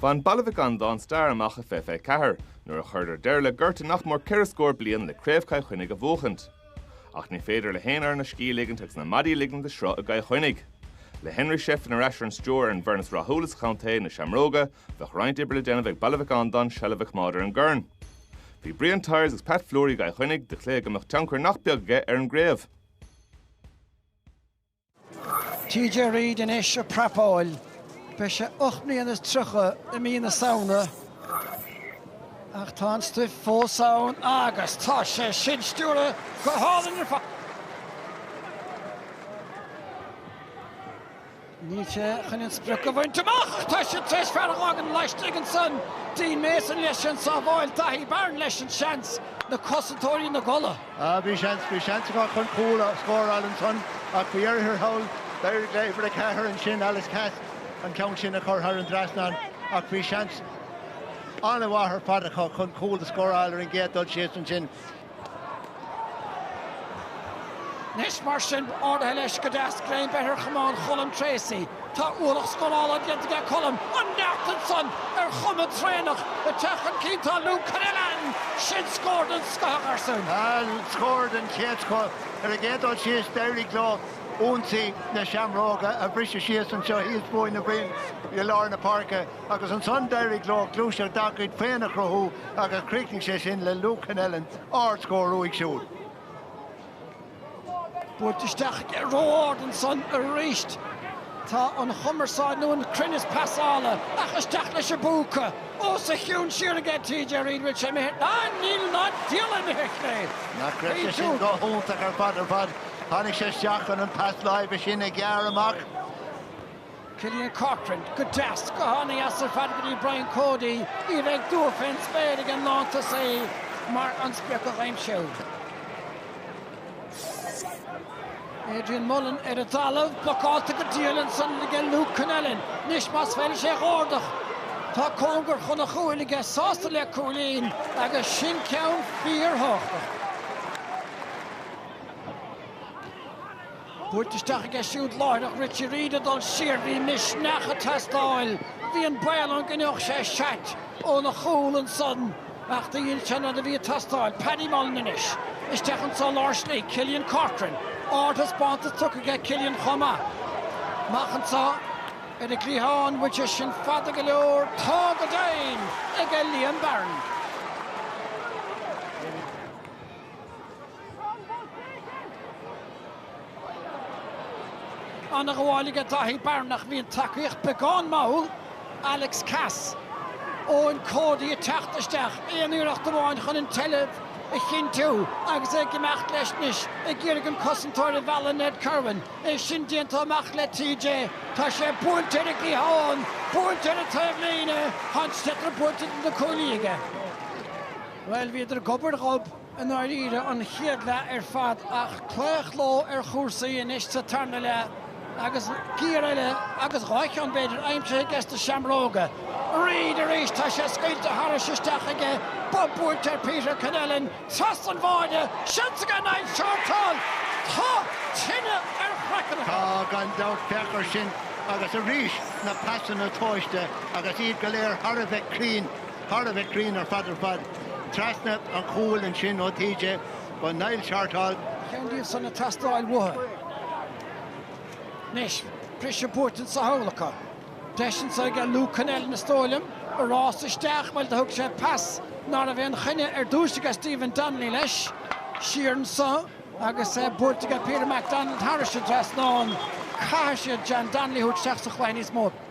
Bhain Baile Mhic Andáin stair amach i fiche fiche ceathair nuair a chuireadar deireadh le gorta nach mór ceithre scór bliain le Craobh Chill Chainnigh a bhuachaint. Ach ní féidir le haon fhoireann a scíth a ligint agus na maidí a ligint le sruth i gCill Chainnigh. Le Henry Shefflin ar ais ar an stiúir ar an bhfoireann is rathúla sa chontae, na Seamróga, bheadh roinnt oibre le déanamh ag Baile Mhic Andáin seilbh a choimeád ar an gcorn. Bhí Brian Tyers agus Pat Fleury i gCill Chainnigh do chluiche go mbeadh tionchar nach beag aige ar an gcraobh. TJ Reid anois ag prapáil. Beidh sé ocht mbliana is tríocha i mí na Samhna ach tá an stuif fós ann agus tá sé sin stiúrtha go hálainn ar fad. Níl sé chun an sprioc a bhaint amach ach tá siad tar éis fear a dh'fhágaint laistigh ansan. Dean Mason leis an sábháil, Daithí Barron leis an seans, na cosantóirí ina gcodladh. Bhí seans, bhí seans acu chun cúl a scóráil ansan ach faoi dheireadh thiar thall, d'éirigh le uimhir a ceathair ansin, Alex Cass, an ceann sin a chur thar an dtrasnán ach bhí seans an-mhaith ar fad acu chun cúl a scóráil ar an gcéad dul síos ansin. Anois mar sin, ardaithe leis go deas greim beirthe ar chamán Cholm Treacy. Tá ualach scórála déanta ag Colm an tseachtain san ar chuma an traonach. Ag teacht chun cinn tá Luke Connellan. Sin scór den scoth a chomharsain. Scór den chéad scoth. Ar an gcéad dul síos d'éirigh leo ionsaí na Seamróga a bhriseadh síos anseo thíos fúinn, na Bruins i lár na páirce, agus ansan d'éirigh leo gluaiseacht dá gcuid féin a chruthú agus chríochnaigh sé sin le Luke Connellan ard-scór uaidh siúd. Buailte isteach ró-ard ansan aríst. Tá an chumarsáid, nó an cruinneas pasála, ach isteach leis an bpúca. Os a chionn siar aige, TJ Reid, bhfuil sé imithe? Níl ná diabhal imithe, ar clé. Nach raibh sé sin go hiontach ar fad ar fad. Tháinig sé isteach chun an pas láimhe sin a ghearradh amach. Cillian Corcoran go deas go hana-dheas ar fad go dtí Brian Cody, ní bheidh dua fén spéir ag an lántosaí mar an sprioc a chuimsiú. Adrian Mullen ar an dtalamh, blocáilte go diail ansan aige Luke Connellan. Anois más féidir leis é a dh'ardach, tá cóngar chun an chúil aige sásta le cúilín agus sin ceann fíorthábhachtach. Buailte isteach aige siúd láithreach, Richie Reid ag dul siar, bhí misneach ag teastáil, bhí an baol ann go ngeobhadh sé seait óna chúl ansan ach do dhein sé an rud a bhí ag teastáil. Paddy Mullen anois isteach anso lár slí, Cillian Corcoran, ardthaispeántas tugtha aige Cillian chomh maith. Amach anso ar an gcliathán, bhfuil sé sin fada go leor, tá go deimhin aige Liam Barron. An-ghabháil aige Daithí Barron ach bhí an tacaíocht beagán mall, Alex Cass, Eoin Cody ag teacht isteach, aon iarracht amháin chun an tseilbh a chinntiú agus é ag imeacht leis anois, ag iarraidh an cosantóir a mhealladh Ned Kirwan, é sin déanta amach le TJ, tá sé buailte ar an gcliathán, buailte ar an taobhlíne, ach an sliotar buailte idir na cuaillí aige. Bhuel, bhíodar gob ar ghob, i ndáiríre, an chéad leath ar fad ach claochló ar chúrsaí anois sa tarna leath agus giar eile, agus dhá cheann, b'fhéidir, aimsithe aige sna Seamróga. Reid arís! Tá sé scaoilte tharais isteach aige, bob buailte ar Peter Connellan trasna an bháire, seans aige Niall Shortall! Tá tine ar a chraiceann. Tá, gan dabht, féach air sin, agus arís na pasanna tomhaiste agus iad go léir thar a bheith cruinn. thar a bheith cruinn ar fad ar fad. Trasna an chúil ansin ó TJ go Niall Shortall. Ceann díobh san ag teastáil uathu. Anois, briseadh buaite anso thall acu. Deis anso aige Luke Connellan, is dóigh liom, ag rás isteach, bhuel do thug sé pas ná raibh aon choinne ar dtúis aige Stephen Donnelly leis. Siar anso agus buailte aige Peter McDonald thairis an dtrasnán. Caithfidh siad John Donnelly a thabhairt isteach sa chluiche níos mó.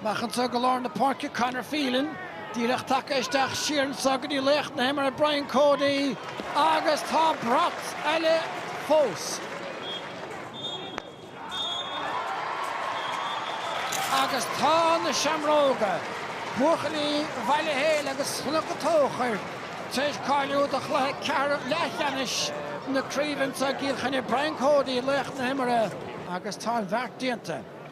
Amach anso go lár na páirce, Conor Phelan díreach tagtha isteach, siar anso go dtí laoch na himeartha Brian Cody agus tá brat eile fós agus tá na Seamróga, buachaillí Bhaile Héil agus Chnoc an Tóchair, tar éis cáiliú do chluiche ceathrú leathcheannais na craoibhe anso i gCill Chainnigh. Brian Cody laoch na himeartha agus tá an bheart déanta.